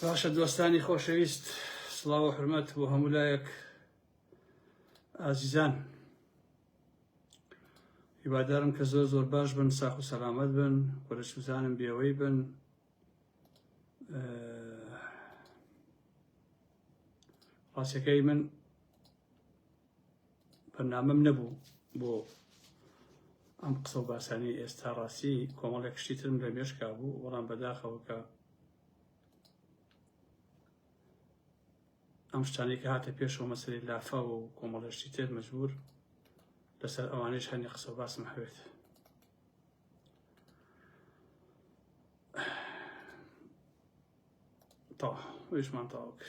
باشە دۆستانی خۆشەویست سڵاو و حرمەت بۆ هەموو لایەک ئازیزان هیوادارم کە زۆر زۆر باش بن ساخ و سەلامەت بن و لە سوزانم بێوەی بن ڕاستەکەی من بەرنامەم نەبوو بۆ ئەم قسە و باسانی ئێستا ڕاستی کۆمەڵێک شتی ترم لە مێشکا بوو وەڵام بەداخەوە کە ئەم شتانێک هاتە پێشەوە مەسەری لافاوە و کۆمەڵێشتی تر مەجبور لەسەر ئەوانەی شانی قسە باسم هەوێت تاح ویشمان تاوک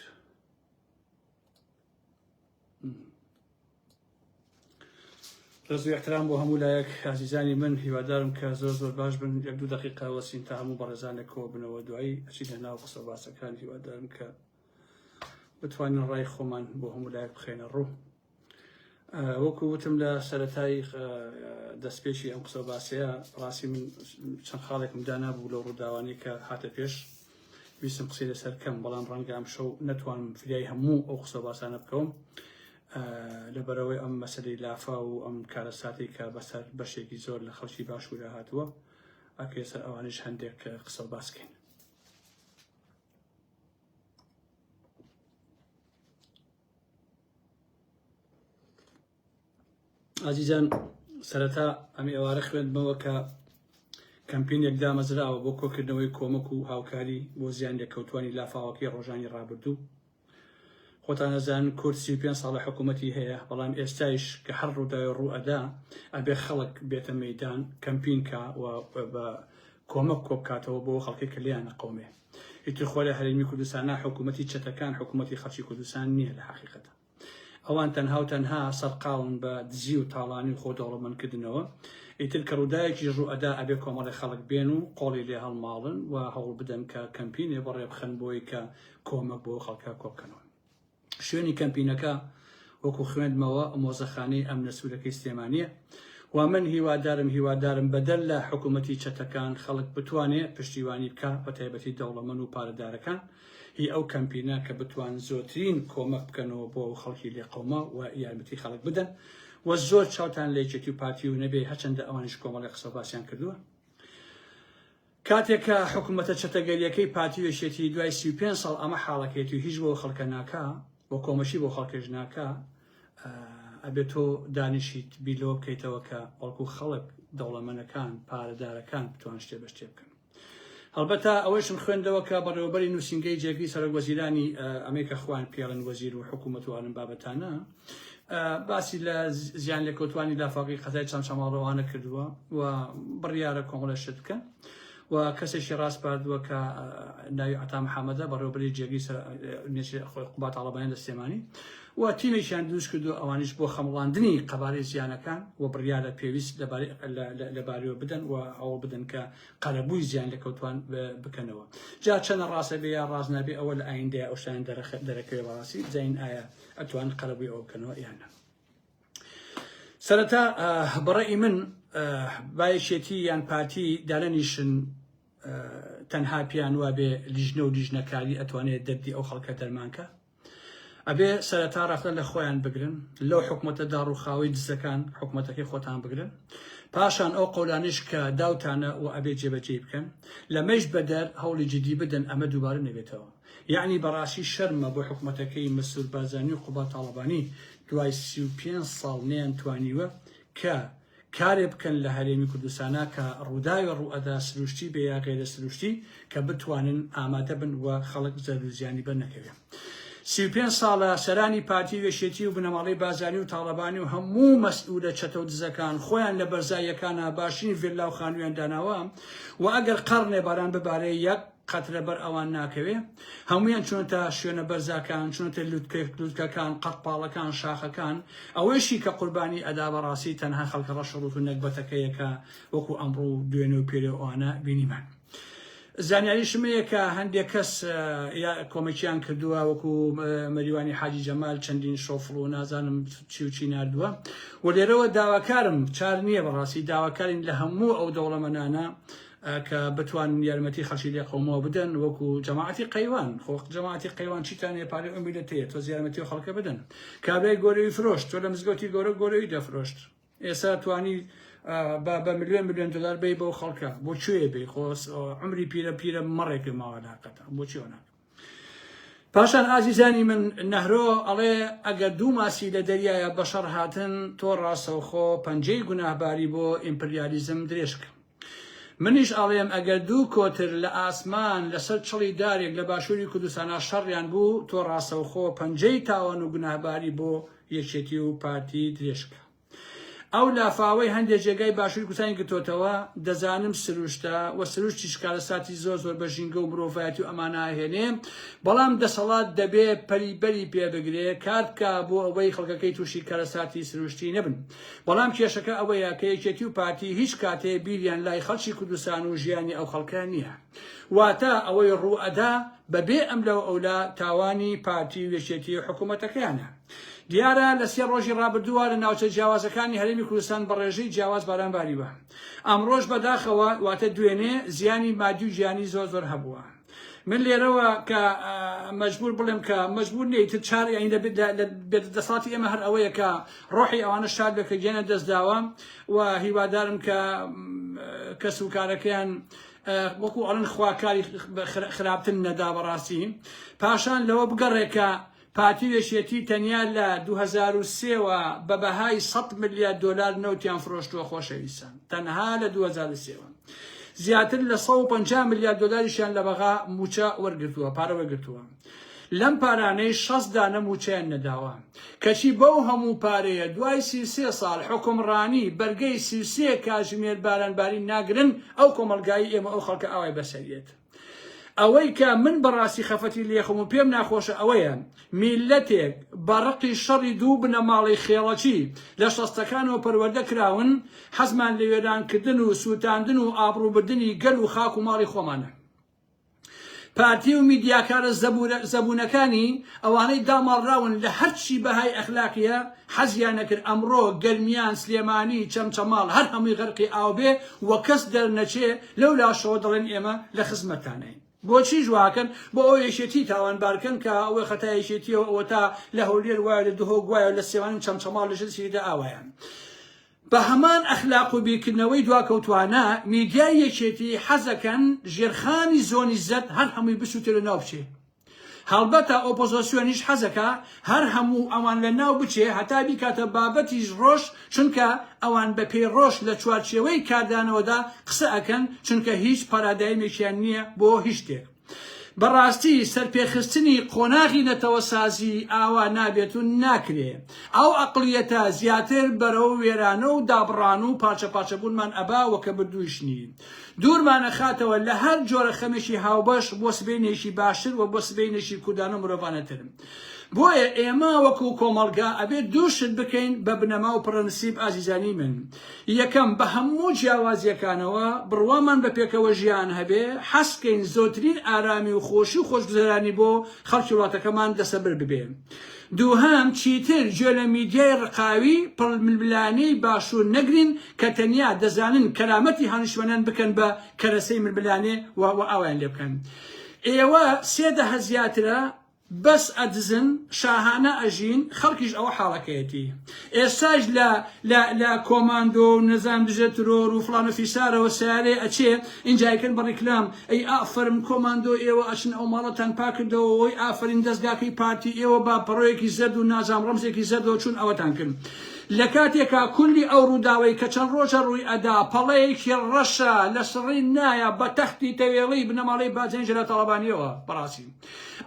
رز و احترام بۆ هەموو لایەک ئازیزانی من هیوادارم کە زۆر زۆر باش بن یەک دوو دقیقا وەسین تا هەموو بەڕێزانێک کۆ بنەوە دوایی ئەچی لەناو قسە باسەکان هیوادارم کە بتوانین ڕای خۆمان بۆ هەموو لایەک بخێنە ڕوو وەکو وتم لە سەرەتای دەستپێکی ئەم قسە باسەیە ڕاستی من چەند خاڵێکم دانابوو لەو ڕووداوانی کە هاتە پێش ویستم قسەی لەسەر کەم بەڵام ڕەنگە ئەم شەو نەتوانم فریای هەموو ئەو قسە باسانە بکەوم لەبەرەوەی ئەم مەسەری لافا و ئەم کارە ساتی کە بەسەر بەشێکی زۆر لە خەڵکی باشوورە هاتووە ئەکێ سەر ئەوانش هەندێک قسە باسکەین ئازیزان سەرەتا ئەم ئێوارە خوێندمەوە کە کەمپینێک دامەزراوە بۆ کۆکردنەوەی کۆمەک و هاوکاری بۆ زیان لێکەوتوانی لافاوەکەی ڕۆژانی ڕابردوو خۆتانەزان کورد سی پێ ساڵە حکوومەتی هەیە بەڵام ئێستایش کە هەر ڕووداوی ڕوئەدا ئەبێ خەڵک بێتە مەدان کەمپینکە و بە کۆمەک کۆبکاتەوە بۆ خەڵکی کلیانە قومێ ئیتر خۆ لە هەرێمی کوردستانا حکوومەتی چەتەکان حکوومەتی خەڵکی کوردستان نییە لە حەقیقەتە ئەوان تەنها و تەنها سەرقاون بە دزی و تاڵانی و خۆ دەوڵەمەندکردنەوە ئیتر کە ڕووداوێکی ڕوو ئەدا ئەبێ کۆمەڵی خەڵک بێن و قۆڵی لێ هەڵماڵن و هەوڵ بدەن کە کەمپینێ بەڕێ بخەن بۆی کە کۆمەک بۆ خەڵکە کۆبکەنەوە شوێنی کەمپینەکە وەکو خوێندمەوە مۆزەخانەی ئەمنە سوورەکەی سلێمانیە و من هیوادارم هیوادارم بەدەر لە حکومەتی چەتەکان خەڵک بتوانێ پشتیوانی بکا بەتایبەتی دەوڵەمەن و پارەدارەکان هی ئەو کەمپینە کە بتوان زۆرترین کۆمەک بکەنەوە بۆ ئەو خەڵکی لێ قەوما و یارمەتی خەڵک بدەن و زۆر چاوتان لە یەکێتی و پارتی و نەبێ هەچەندە ئەوانیش کۆمەڵی قسە باسیان کردووە کاتێک کە حکومەتە چەتەگەریەکەی پارتی و یەکێتی دوای سی و پێنج ساڵ ئەمە حاڵەکەیەتی و هیچ بۆ خەڵکە ناکا و کۆمەکی بۆ خەڵکێش ناکا ئەبێ تۆ دانیشیت بیر لەوە بکەیتەوە کە بەڵکو خەڵک دەوڵەمەنەکان پارەدارەکان بتوان شتێ بە شتێ بکەن هەڵبەتە ئەوەشم خوێندەوە کە بەڕێوەبەری نووسینگەی جێگری سەرۆک وەزیرانی ئەمەی کە خوان پێڵن وەزیر و حکوومەت و ئالم بابەتانە باسی لە زیان لێکەوتوانی لافاوەکەی قەزای چەمچەماڵ ڕەوانە کردووە و بڕیارە کۆمەڵە شت بکەن و کەسێکی ڕاستپاردووە کە ناوی عتا محەممەدە بەڕێوبەری جێگەی خۆی قوبات تاڵەبانی لە سلێمانی و تیمێکیان دروست کردو ئەوانیش بۆ خەمڵاندنی قەبارەی زیانەکان و بڕیارە پێویست لەبارەوە بدەن و ئەوە بدەن کە قەرەبووی زیان لە کەوتوان بکەنەوە جا چەنە ڕاستە بێ یا ڕاستنابێ ئەوە لە ئایندەیە ئەوشتان دەرەکەی ڕاستی زین ئایا ئەتوان قەرەبوی ئەوە بکەنەوە یان نا سەرەتا بەڕێی من بایەکێتی یان پارتی دانەنیشن تەنها پیان وابێ لیژنە و لیژنەکاری ئەتوانێت دەردی ئەو خەڵکە دەرمانکە ئەبێ سەرەتا ڕەخلە لە خۆیان بگرن لەو حکوومەتە داڕوخاوی دزەکان حکوومەتەکەی خۆتان بگرن پاشان ئەو قەولانیش کە داوتانە و ئەبێ جێبەجێ بکەن لەمەش بەدەر هەوڵی جدی بدەن ئەمە دووبارە نەبێتەوە یەعنی بەڕاستی شەرمە بۆ حکومەتەکەی مەسرور بارزانی و قوباد تاڵەبانی دوای سی و پێنج ساڵ نەیان توانیوە کە کارێ بکەن لە هەرێمی کوردستانا کە ڕوداوێ ڕوئەدا سروشتی بێ یا غەیرە سروشتی کە بتوانن ئامادە بن و خەڵک زەرەر و زیانی بەر نەکەوێ سی و پێنج ساڵە سەرانی پارتی و یەکێتی و بنەماڵەی بازانی و تاڵەبانی و هەموو مەسئولە چەتەو دزەکان خۆیان لە بەرزاییەکانا باشترین ڤێللا و خانوویان داناوە و ئەگەر قەڕنێ باران ببارێ یەک قەت لەبەر ئەوان ناکەوێ هەمویان چونەتە شوێنە بەرزاکان چونەتە لوتکرد لوتکەکان قەت پاڵەکان شاخەکان ئەوەیشی کە قوربانی ئەدا بەڕاستی تەنها خەڵکە ڕەش ڕوت و نەگبەتەکەیەکە وەکو ئەمڕوو دوێنێ و پێرێ ئەوانە بینیمان. زانیاریشمەیە کە هەندێک کەس کۆمەکییان کردووە وەکو مەریوانی حاجی جەمال چەندین شۆفڵ و نازانم چی و چی نردووە و لێرەوە داواکارم چار نییە بەڕاستی داواکارین لە هەموو ئەو دەوڵەمەنانە کە بتوانن یارمەتی خەڵکی لێ قەومەوە بدەن وەکو جەماعەتی قەیوان خۆ جەماعەتی قەیوان چیتان هەیە پارەی ئەو میلەت هەیە تۆز یارمەتی و خەڵکە بدەن کابرای گۆرەوی فرۆشت تۆ لە مزگەوتی گۆرە گۆرەوی دەفرۆشت ئێستا توانی بە بە ملیۆن ملیۆن دلار بی بەو خەڵکە بۆ کوێ بی خۆ عمری پیرە پیرە مەڕێک پێ ماوە ناکەتە بۆ چیەوە ناکەم پاشان ئازیزانی من نەهرۆ ئەڵێ ئەگەر دوو ماسی لە دەریایە بەشەڕ هاتن تۆ ڕاستەوخۆ پەنجەی گوناهباری بۆ ئیمپریالیزم درێژ بکە منیش ئەڵێم ئەگەر دوو کۆتر لە ئاسمان لەسەر چڵی دارێک لە باشووری کوردستانا شەڕیان بوو تۆ ڕاستەوخۆ پەنجەی تاوان و گوناهباری بۆ یەکێتی و پارتی درێژ بکە ئەو لافاوەی هەندێ جێگای باشووری کوردستانی گرتۆتەوە، دەزانم سروشتە و سروشتیش کارەساتی زۆر زۆر بە ژینگە و مرۆڤایەتی و ئەمانە ئەهێنێ، بەڵام دەسەڵات دەبێ پەلی بەری پێ بگرێ، کار بکا بۆ ئەوەی خەڵکەکەی تووشی کارەساتی سروشتی نەبن. بەڵام کێشەکە ئەوەیە کە یەکێتی و پارتی هیچ کاتێ بیریان لای خەڵکی کوردستان و ژیانی ئەو خەڵکە نییە. واتە ئەوەی ڕووئەدا بەبێ ئەملا و ئەولا تاوانی پارتی و یەکێتی و حکوومەتەکەیانە. دیارە لە سێ ڕۆژی ڕابردووە لە ناوچە جیاوازەکانی هەرێمی کوردستان بە ڕێژەی جیاواز باران باریوە. ئەمڕۆش بەداخەوە واتە دوێنێ زیانی مادی و گیانی زۆر زۆر هەبووە. من لێرەوە کە مەجبور بڵێم کە مەجبور نیە تر چار یانی لە دەسەڵاتی ئێمە هەر ئەوەیە کە ڕۆحی ئەوانە شاد بێت کە گیانە دەستداوە و هیوادارم کە کەس و کارەکەیان وەکو ئەڵن خوا کاری خراپتن نەدا بەڕاستی پاشان لەوە بگەڕێ کە پارتی وێشێتی تەنیا لە 2023ەوە بە بەهای 100 ملیار دلار نەوتیان فرۆشتووە خۆشەویستان تەنها لە 2023ەوە زیاتر لە 150 ملیار دلاریشیان لە بەغا موچە وەرگتووە پارە وەرگتووە لەم پارانەی شەست دانە موچەیان نەداوە کەچی بەو هەموو پارەیە دوای سی و سێ ساڵ حوکم ڕانی بەرگەی سی و سێ کاژمێر باران بارین ناگرن ئەو کۆمەڵگایی ئێمە ئەو خەڵکە ئاوای بەسەریێت ئەوەی کە من بەڕاستی خەفەتی لێخم و پێم ناخۆشە ئەوەیە میلەتێک بەڕقی شەڕی دوو بنە ماڵی خێڵەکی لە شەستەکانەوە پەروەردە کراون حەزمان لە وێرانکردن و سووتاندن و ئابڕووبردنی گەل و خاک و ماڵی خۆمانە پارتی و میدیاکارە زەبونەکانی ئەوانەی داماڵراون لە هەرچی بەهای ئەخلاقیە حەزیان نەکرد ئەمڕۆ گەرمیان سلێمانی چەمچەماڵ هەر هەمووی غەرقی ئاو بێ و کەس دەرنەچێ لەو لاشەوە دەڵێن ئێمە لە خزمەتتانین بۆچیش واکەن بۆ ئەوە یەکێتی تاوانبارکەن کە ئەوە خەتای یەکێتیەوە ئەوەتا لە هەولێر وایە لە دهۆک وایە لە سلێمانی و چەمچەماڵ لەژێر سیلیدا ئاوایان. بە هەمان ئەخلاق و بیرکردنەوەی دواکەوتوانە، میدیای یەکێتی حەزەکەن ژێرخانی زۆنی زەرد هەر هەمووی بسوتێ لەناو بچێ. هەڵبەتە ئۆپۆزۆسیۆنیش حەزەکا هەر هەموو ئەوان لەناو بچێ هەتا بیکاتە بابەتی ڕۆژ چونکە ئەوان بە پێی ڕۆژ لە چوارچێوەی کاردانەوەدا قسە ئەکەن چونکە هیچ پارادایمێکیان نیە بۆ هیچ شتێک. بەڕاستی سەرپێخستنی قۆناغی نەتەوەسازی ئاوا نابێت و ناکرێ ئەو ئەقڵیەتە زیاتر بەرەو وێرانە و دابڕان و پارچە پارچە بوونمان ئەبا و کە مردوویش نین دوورمانەخاتەوە لە هەر جۆرە خەمێکی هاوبەش بۆ سبەینێکی باشتر و بۆ سبەینێکی کوردانە و مرۆڤانەتر. بۆیە ئێمە وەکو کۆمەڵگا ئەبێ دوو شت بکەین بە بنەما و پڕەنسیپ ئازیزانی من یەکەم بە هەموو جیاوازیەکانەوە بڕوامان بە پێکەوە ژیان هەبێ حەزکەین زۆترین ئارامی و خۆشی و خۆشگوزەرانی بۆ خەڵکی وڵاتەکەمان دەسەبر ببێ دووهەم چیتر گوێ لە میدیای ڕقاوی پڕململانێی باشوور نەگرین کە تەنیا دەزانن کەرامەتی هانیشمەنان بکەن بە کەرەسەی ململانێ و ئاوایان لێ بکەن ئێوە سێ دەهە زیاترە بەس ئەدزن شاهانە ئەژین خەڵکیش ئەوە حاڵەکەیەتی ئێستاش لە لە لە کۆماندۆ و نەزان دژە ترۆر و فڵان و فیسارەوە سیارەی ئەچێ ئینجا ئەیکەن بە ڕیکلام ئەی ئافەرم کۆماندۆ ئێوە ئەچن ئەو ماڵەتان پاکردەوە وەی ئافەرین دەزگاکەی پارتی ئێوە با پەڕۆیەکی زەرد و نازام ڕەمزێکی زەردەوە چوون ئەوەتان کرد لە کاتێکا کولی ئەو ڕووداوەی کە چەند ڕۆژە ڕووی ئەدا پەڵەیەکی ڕەشە لە سڕین نایە بە تەختی تەوێڵەی بنەماڵەی باجەنی جەلال تاڵەبانیەوە بەڕاستی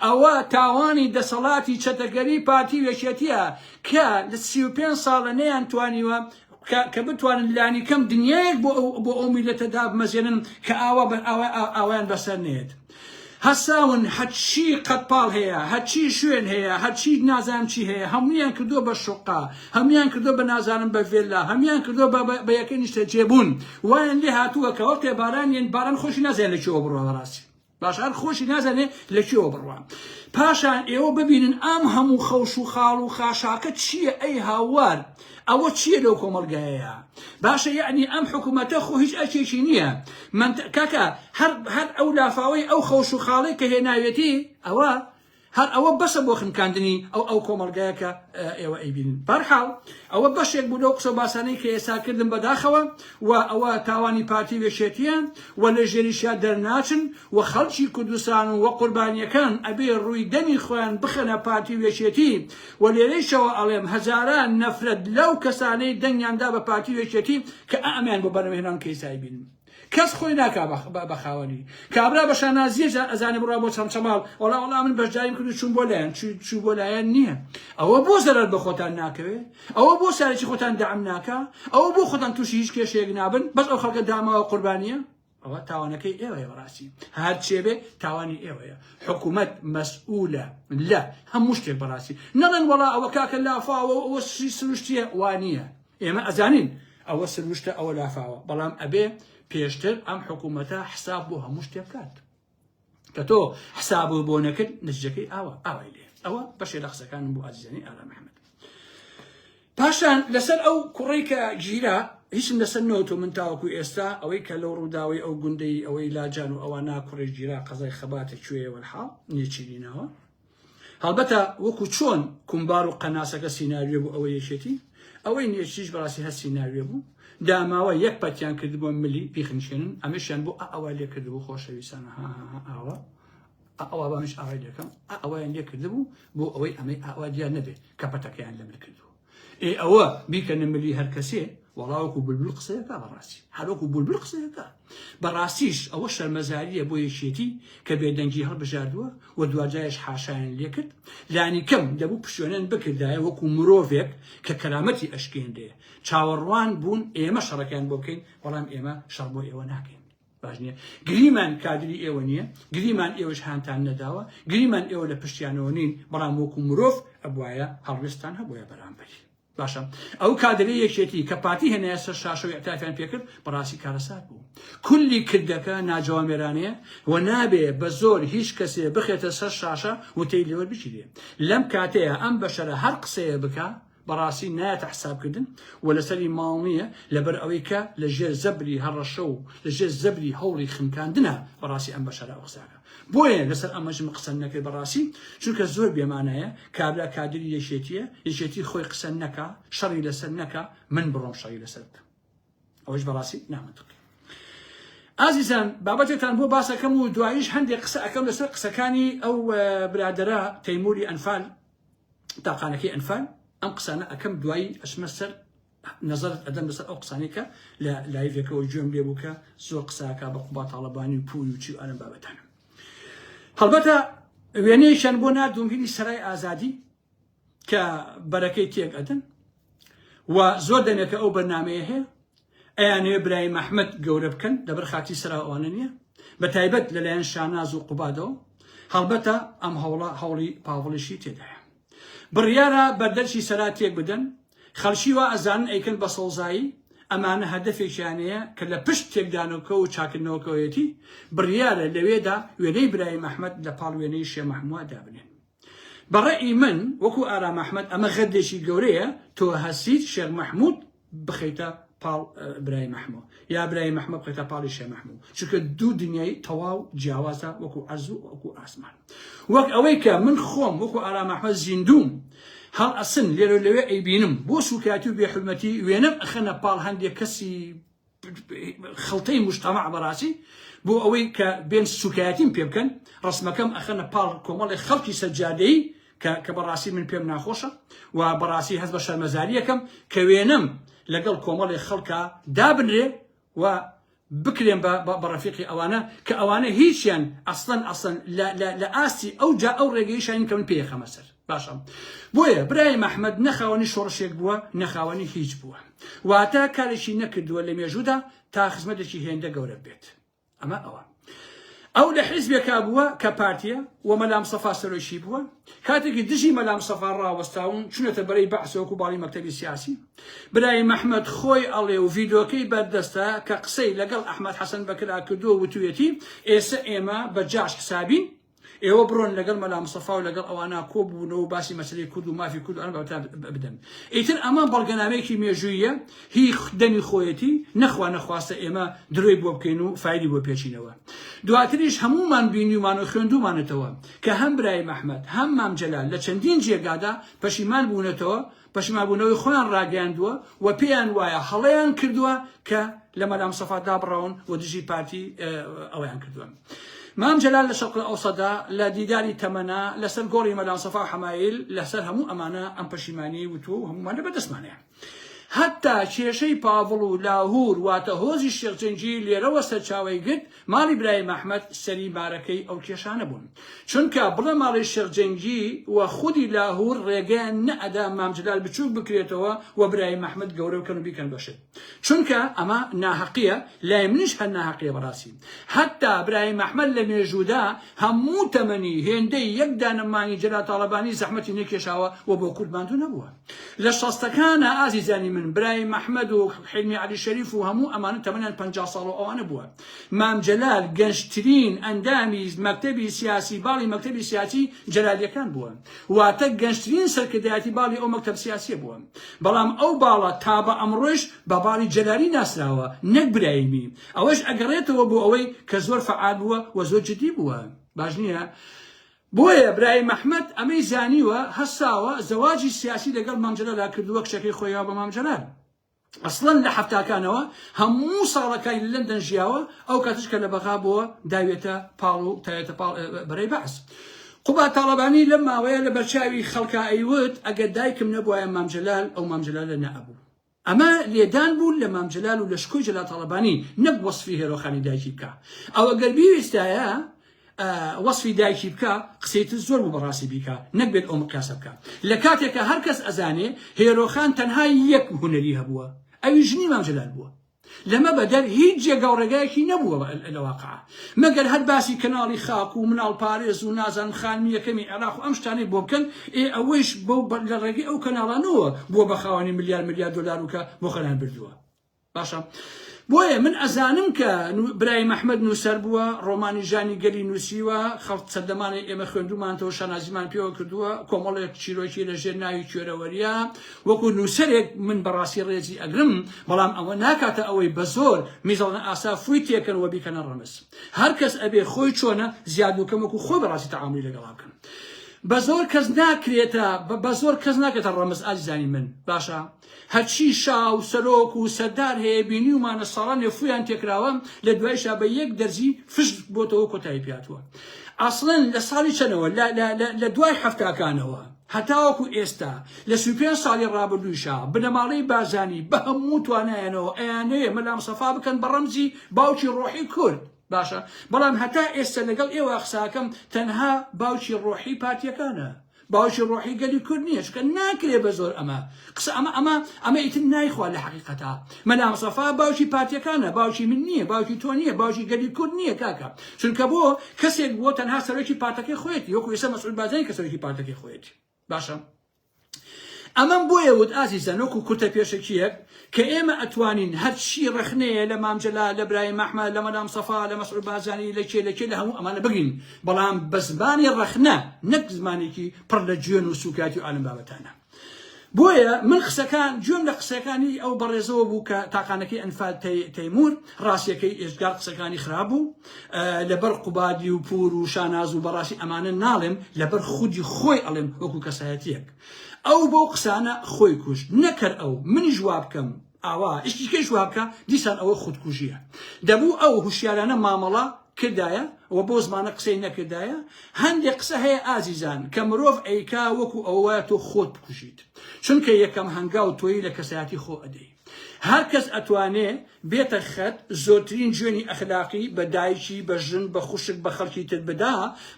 ئەوە تاوانی دەسەڵاتی چەتەگەری پارتی و یەکێتیە کە لە سی و پێنج ساڵە نەیان توانیوە کە بتوانن لانی کەم دنیایەک بۆ ئەو بۆ ئەو میلەتە دابمەزێنن کە ئاوا بەر ئاوا ئاوایان بەسەر نێت هەساون هەچی قەتپاڵ هەیە هەچی شوێن هەیە هەچی نازانم چی هەیە هەمویان کردو بە شقا هەمویان کردو بە نازانم بە ڤێلا هەمویان کردو بە یەکە نیشتە جێبوون وایان لێ هاتووە کە وەختێ باران یەن باران خۆشی نازانێت لە چیەوە بڕۆ بەڕاستی باشە هەر خۆشی نازانێ لە کوێوە بڕوان پاشان ئێوە ببینن ئەم هەموو خەوش و خاڵ و خاشاکە چییە ئەی هاوار ئەوە چییە لەو کۆمەلگایەیە باشە یعنی ئەم حکوومەتە خۆ هیچ ئەکێکی نییە من کاکە هەر هەر ئەو لافاوەی ئەو خەوش و خاڵی کە هێناوێتی ئەوە هەر ئەوە بەسە بۆ خنکاندنی ئەو ئەو کۆمەڵگایە کە ئێوە ئەیبینن بەرحاڵ ئەوە بەشێک بوو لەو قسە باسانەی کە ئێسا کردن بەداخەوە و ئەوە تاوانی پارتی وێشێتیە و لە ژێریشیا دەرناچن و خەڵکی کوردستان و وە قوربانیەکان ئەبێ ڕووی دەمی خۆیان بخەنە پارتی وێشێتی و لێرەیشەوە ئەڵێم هەزاران نەفرەت لەو کەسانەی دەنگیاندا بە پارتی وێشێتی کە ئەمیان بۆ بەرەمهێنان کەیسای بینن کەس خۆی ناکا بە خاوەنی. کابرا بە شانازیە جا ئەزانێ بڕا بۆ چەمچەماڵ وەڵا وەڵا من بەشداریم کرد و چوون بۆ لایەن چوو بۆ لایەن نییە ئەوە بۆ زەرەر بە خۆتان ناکەوێ ئەوە بۆ سارێکی خۆتان دام ناکا ئەوە بۆ خۆتان تووشی هیچ کێشەیەک نابن بەس ئەو خەڵکە داماوە قوربانیە ئەوە تاوانەکەی ئێوەیە بەڕاستی هەر چێبێ تاوانی ئێوەیە حکوومەت مەسئولە لە هەموو شتێک بەڕاستی نەڵێن وەڵا ئەوە کاکە لافاوە ئەوە سروشتیە وانە ئێمە ئەزانین ئەوە سروشتە ئەوە لافاوە بەڵام ئەبێ پێشتر ئەم حکوومەتە حساب بۆ هەموو شتێ بکات کە تۆ حساب و بۆ نەکرد نزجەکەی ئاوە ئاوای لێ ئەوە بەشێ لە قسەکانم بۆ ئازیزانی ئارا محمد پاشان لەسەر ئەو کوڕی کە گیرا هیچم لەسەر نەوتۆ من تاوەکو ئێستا ئەوەی کە لەو ڕووداوی ئەو گوندەی ئەوەی لاجان و ئەوە ناکوڕی گیرا قەزای خەباتە کوێەوە حاڵ نێچیرینەوە هەڵبەتە وەکو چۆن کومبار و قەناسەکە سیناریۆ بوو ئەوە یەکێتی ئەوەی نێچریش بەڕاستی هەر سیناریۆ بوو داماوە یەک پەتیان کردبووە ملی بیخنچێنن ئەمەشیان بۆ ئەوە لێ کردبوو خۆشەویستانە ها ها ها ئاوە ئەوە بەمش ئاوای لەکەم ئەوەیان لێ کردبوو بۆ ئەوەی ئەمەی ئاوا دیار نەبێ کە پەتەکەیان لەمل کردووە ئێ ئەوە بیکەنە ملی هەر کەسێ وەڵا وەکو بولبول قسەیەکە بەڕاستی هەر وەکو بولبول قسەیەکە بەڕاستیش ئەوە شەرمەزاریە بۆ یەکێتی کە بێدەنگی هەڵبژاردووە و دواجاش حاشایان لێکرد لانی کەم دەبوو پشوێنەن بکردایە وەکو مرۆڤێک کە کەرامەتی ئەشکێنرێ چاوەڕوان بوون ئێمە شەڕەکەیان بۆ بکەین بەڵام ئێمە شەڕ بۆ ئێوە ناکەین باش نیە گریمان کادری ئێوە نیە گریمان ئێوەش هانتان نەداوە گریمان ئێوە لە پشتیانەوە نین بەڵام وەکو مرۆڤ ئەبوایە هەڵوێستان هەبووە بەرامبەری باشە ئەو کادری یەکێتی کە پارتی هێنایە سەر شاشەوە ئەتافیان پێکرد بەڕاستی کارەسات بوو کولی کردەکە ناجوامێرانەیە و نابێ بە زۆر هیچ کەسێ بخێتە سەر شاشە وتەی لێوەر بچیرێ لەم کاتەیە ئەم بەشەرە هەر قسەیە بکە بەڕاستی نایەتە حسابکردن و لەسەری ماڵ نییە، لەبەر ئەوەی کە لە ژێر زەبری هەڕەشە و لە ژێر زەبری هەوڵی خنکاندنە بەڕاستی ئەم بەشەرە ئەو قسانە. بۆیە لەسەر ئەمەش من قسەم نەکرد بەڕاستی، چونکە زۆر بێ مانایە کابرا کادری یەکێتییە، یەکێتی خۆی قسە نەکا، شەڕی لەسەر نەکا، من بڕۆم شەڕی لەسەر بکەم. ئەوەش بەڕاستی نامەنتقییە. ئازیزان بابەتێکتان بۆ باس ئەکەم و دواییش هەندێ قسە ئەکەم لەسەر قسەکانی ئەو برادەرە تەیموری ئەنفال، تاقانەکەی ئەنفال ئەم قسانە ئەکەم دوایی ئەچمە سەر نەزەرت ئەدەم لەسەر ئەو قسانەی کە لە لایڤێکەوە گوێم لێ بوو کە زۆر قساکە بە قوبا تاڵەبانی و پووی و چی و ئەرم بابەتانە هەڵبەتە وێنەیەکیان بۆ ناردوم هینی سەرای ئازادی کە بەرەکەی تێک ئەدەن و زۆر دەمێکە ئەو بەرنامەیە هەیە ئەیانەوێ برایم ئەحمەد گەورە بکەن لەبەر خاتی سەرا ئەوانە نییە بە تایبەت لەلایەن شاناز و قوبادەوە هەڵبەتە ئەم هەوڵە هەوڵی پاڤڵیشی تێدایە بڕیارە بەردەرچی سەرا تێک بدەن خەڵکی وا ئەزانن ئەیکەن بە سەوزایی ئەمانە هەدەفێکیانەیە کە لە پشت تێکدانەوەکە و چاکردنەوەکەوەیەتی بڕیارە لەوێدا وێنەی برایم ئەحمەد لە پاڵ وێنەی شێ مەحمووا دابنێن بە ڕەئی من وەکو ئارام ئەحمەد ئەمە غەدرێکی گەورەیە تۆ هەسیت شێخ مەحمود بخەیتە پاڵ برای مەحموو یا برای مەحمە بخەیتە پاڵی شێ مەحموو چونکە دوو دنیای تەواو جیاوازە وەکو عەرزو وەکو ئاسمان وەک ئەوەی کە من خۆم وەکو ئارام ئەحمەد زیندوم هەڵ ئەسن لێرە لەوێ ئەیبینم بۆ سوکایەتی و بێحرمەتی وێنەم ئەخەنە پاڵ هەندێک کەسی خڵتەی موجتەمەع بەڕاستی بۆ ئەوەی کە بێن سوکایەتیم پێ بکەن ڕسمەکەم ئەخەنە پاڵ کۆمەڵی خەڵکی سەجادەیی کە بەڕاستی من پێم ناخۆشە و بەڕاستی هەز بە شەرمەزاریەکەم کە وێنەم لەگەڵ کۆمەڵی خەڵکە دابنرێ و بکرێن بە بەڕەفیقی ئەوانە کە ئەوانە هیچیان ئەسڵەن ئەسڵەن لە ئاستی ئەو جا ئەو ڕێگەیشان کە من پێخەمە سەر باشە بۆیە برای مەحمەد نەخاوەنی شۆڕشێک بووە نەخاوەنی هیچ بووە واتە کارێکی نەکردووە لە مێژوودا تا خزمەتێکی هێندە گەورە بێت ئەمە ئەوە ئەو لە حیزبێکا بووە کە پارتیە و مەلام سەفا سەرۆکی بووە کاتێکی دژی مەلام سەفا ڕاوەستاون چونەتە بەرەی بەعسۆک و باڵی مەکتتەبی سیاسی برای مححمد خۆی ئەڵێ و ڤیدۆکەی بەردەستە کە قسەی لەگەڵ ئەحمد حەسەن بەکرا کردووە وتوێتی ئێستا ئێمە بە جاش حسابین ئێوە بڕۆن لەگەڵ مەلا مستەفا و لەگەڵ ئەوانە کۆ ببنەوە و باسی مەسەلەی کورد و مافی کورد و ئەم بابەتە بدەن ئیتر ئەمە بەڵگەنامەیەکی مێژوویە هی دەمی خۆیەتی نەخوا نەخواستە ئێمە درۆی بۆ بکەین و فایلی بۆ پێچینەوە دواتریش هەموومان بینیومان و خوێندومانەتەوە کە هەم برای مەحمەد هەم مام جەلال لە چەندین جێگادا پەشیمان بوونەتەوە پەشیمانبوونەوەی خۆیان ڕاگەیاندووە و پێیان وایە هەڵەیان کردووە کە لە مەلامستەفا دابڕاون و دژی پارتی ئەوەیان کردووە. مام جەلال لە شەرق ئەوسەدا لە دیداری تەمەنا لەسەر گۆڕی مەلامسەفا و حەمایل لەسەر هەموو ئەمانە ئەم پەشیمانی وتووە و هەمومان لە بەردەستمانەیە. هەتا کێشەی پاڤڵ و لاهور واتە هۆزی شێخ جەنگی لێرەوە سەرچاوەی گرت ماڵی برایم ئەحمەد سەری مارەکەی ئەو کێشانە بوون چونکە بڵێ ماڵی شێخ جەنگی و خودی لاهور ڕێگەیان نەئەدا مام جلال بچوک بکرێتەوە و برایم ئەحمەد گەورە بکەن و بیکەن بە شت چونکە ئەمە ناهەقیە لای منیش هەر ناهەقیە بەڕاستی هەتا برایم ئەحمەد لە مێژوودا هەموو تەمەنی هێندەی یەک دانە مانگی جەلال تاڵەبانی زەحمەتی نەکێشاوە و بۆ کورد ماندوو نەبووە. لە شەستەکانا ئازیزانی من برایم مەحمەد و حیلمی عەلی شەریف و هەموو ئەمانە تەمەنیان پەنجا ساڵ و ئەوانە بووە مام جەلال گەنجترین ئەندامی مەکتەبی سیاسی باڵی مەکتەبی سیاسی جەلالیەکان بووە واتە گەنجترین سەرکردایەتی باڵی ئەو مەکتەب سیاسیە بووە بەڵام ئەو باڵە تا بە ئەمڕۆش بە باڵی جەلالی ناسراوە نەک برایمی ئەوەش ئەگەڕێتەوە بۆ ئەوەی کە زۆر فعال بووە و زۆر جدی بووە باش نییە بۆیە برایم ئەحمەد ئەمەی زانیوە هەستاوە زەواجی سیاسی لەگەڵ مام جەلالا کردووە کچەکەی خۆی یاوە بە مام جەلال ئەسڵەن لە حەفتاکانەوە هەموو ساڵەکانی لە لەندەن ژیاوە ئەو کاتش کە لە بەغا بووە داوێتە پاڵ و تاوێتە پاڵ بەرەی بەعس قوبا تاڵەبانی لەم ماوەیە لە بەرچاوی خەڵکا ئەیوت ئەگەر دایکم نەبوایە مام جەلال ئەو مام جەلالە نەئەبوو ئەمە لێدان بوو لە مام جەلال و لە شکۆی جەلال تاڵەبانی نەک وەسفی هێرۆخانی دایکی بکا ئەوە گەر بیویستایە وەسفی دایکی بکە قسەی تر زۆر بوو بەڕاستی بیکە نەکبێت ئەو مقیاسە بکە لە کاتێکە هەر کەس ئەزانێ هێرۆخان تەنها یەک هونەری هەبووە ئەوی ژنی مام جەلال بووە لەمە بەدەر هیچ جێگا و ڕێگایەکی نەبووە لە واقع، مەگەر هەر باسی کەناڵی خاک و مناڵپارێز و نازانم خانمی یەکەمی عێراق و ئەم شتانەی بۆ بکەن، ئێ ئەوەیش بەو لە ڕێگەی ئەو کەناڵانەوە بووە بە خاوەنی ملیار ملیار دۆلار و کە بۆ خۆیان بردووە. باشە بۆیە من ئەزانم کە برایم ئەحمەد نووسەر بووە، ڕۆمانی ژانی گەلی نووسیوە، خەڵک سەردەمانێ ئێمە خوێندوومانتەوە شانازیمان پێوە کردووە، کۆمەڵێک چیرۆکی لە ژێر ناوی کوێرەوەرییە، وەکو نووسەرێک من بەڕاستی ڕێزی ئەگرم، بەڵام ئەوە ناکاتە ئەوەی بە زۆر میزەڵنە ئاسا فووی تێکەن و بیکەنە ڕەمز. هەر کەس ئەبێ خۆی چۆنە، زیاد و کەم وەکو خۆی بەڕاستی تەعامولی لەگەڵا بکەن. بە زۆر کەس ناکرێتە، بە زۆر کەس ناکرێتە ڕەمز ئازیزانی من. باشە هەرچی شا و سەرۆک و سەردار هەیە بینیومانە ساڵانێ فوویان تێکراوە، لە دوایشا بە یەک دەرزی فشت بۆتەوە و کۆتایی پێهاتووە. ئەسڵەن لە ساڵی چەنەوە، لە دوای حەفتاکانەوە. هەتاوەکو ئێستا لە سی و پێنج ساڵی ڕابردوویشا بنەماڵەی بارزانی بە هەموو توانایانەوە ئەیانەوێ مەلا مستەفا بکەن بە ڕەمزی باوکی ڕۆحی کورد باشە بەڵام هەتا ئێستا لەگەڵ ئێوە قساکەم تەنها باوکی ڕۆحی پارتیەکانە باوکی ڕۆحی گەلی کورد نییە چکە ناکرێ بە زۆر ئەمە قسە ئەمە ئەمە ئەمە ئیتر نایخوا لە حقیقەتە مەلا مستەفا باوکی پارتیەکانە باوکی من نیە باوکی تۆ نیە باوکی گەلی کورد نیە کاکە چونکە بۆ کەسێک بووە تەنها سەرۆکی پارتەکەی خۆیەتی وەکو ئێستا مەسعود بارزانی کە سەرۆکی پارتەکەی خۆیەتی باشە ئەمەم بۆیە وت ئازیزە نۆکو کورتە پێشەکیەک کە ئێمە ئەتوانین هەرچی ڕخنەیە لە مامجللا لە برای مەحمە لە مەلام سەفا لە مەسعود بازانی لە کێ لەکێ لە هەموو ئەمانە بگرین بەڵام بە زمانی ڕخنە نەک زمانێکی پڕ لە جوێن و سوکاتی و عالم بابەتانە بۆیە من قسەکان گوێم لە قسەکانی ئەو بەڕێزەوە بوو کە تاقانەکەی ئەنفال تەیمور ڕاستیەکەی ئێجگار قسەکانی خراپ بوو لەبەر قوبادی و پور و شاناز و بەڕاستی ئەمانە ناڵێم لەبەر خودی خۆی ئەڵێم وەکو کەسایەتیەک ئەو بەو قسانە خۆی کوشت نەکەر ئەو منیش وابکەم ئاوا شتی کەیش وابکە دیسان ئەوە خودکوژیە دەبوو ئەو هوشیارانە مامەڵە کردایە و بۆ زمانە قسەی نەکردایە هەندێک قسە هەیە ئازیزان کە مرۆڤ ئەیکا وەکو ئەوە تۆ خۆت بکوژیت چونکە یەکەم هەنگاو تۆی لە کەسایەتی خۆ ئەدەی هەر کەس ئەتوانێ بێتە خەت زۆرترین جوێنی ئەخلاقی بە دایکی بە ژن بە خوشک بە خەڵکی تر بدا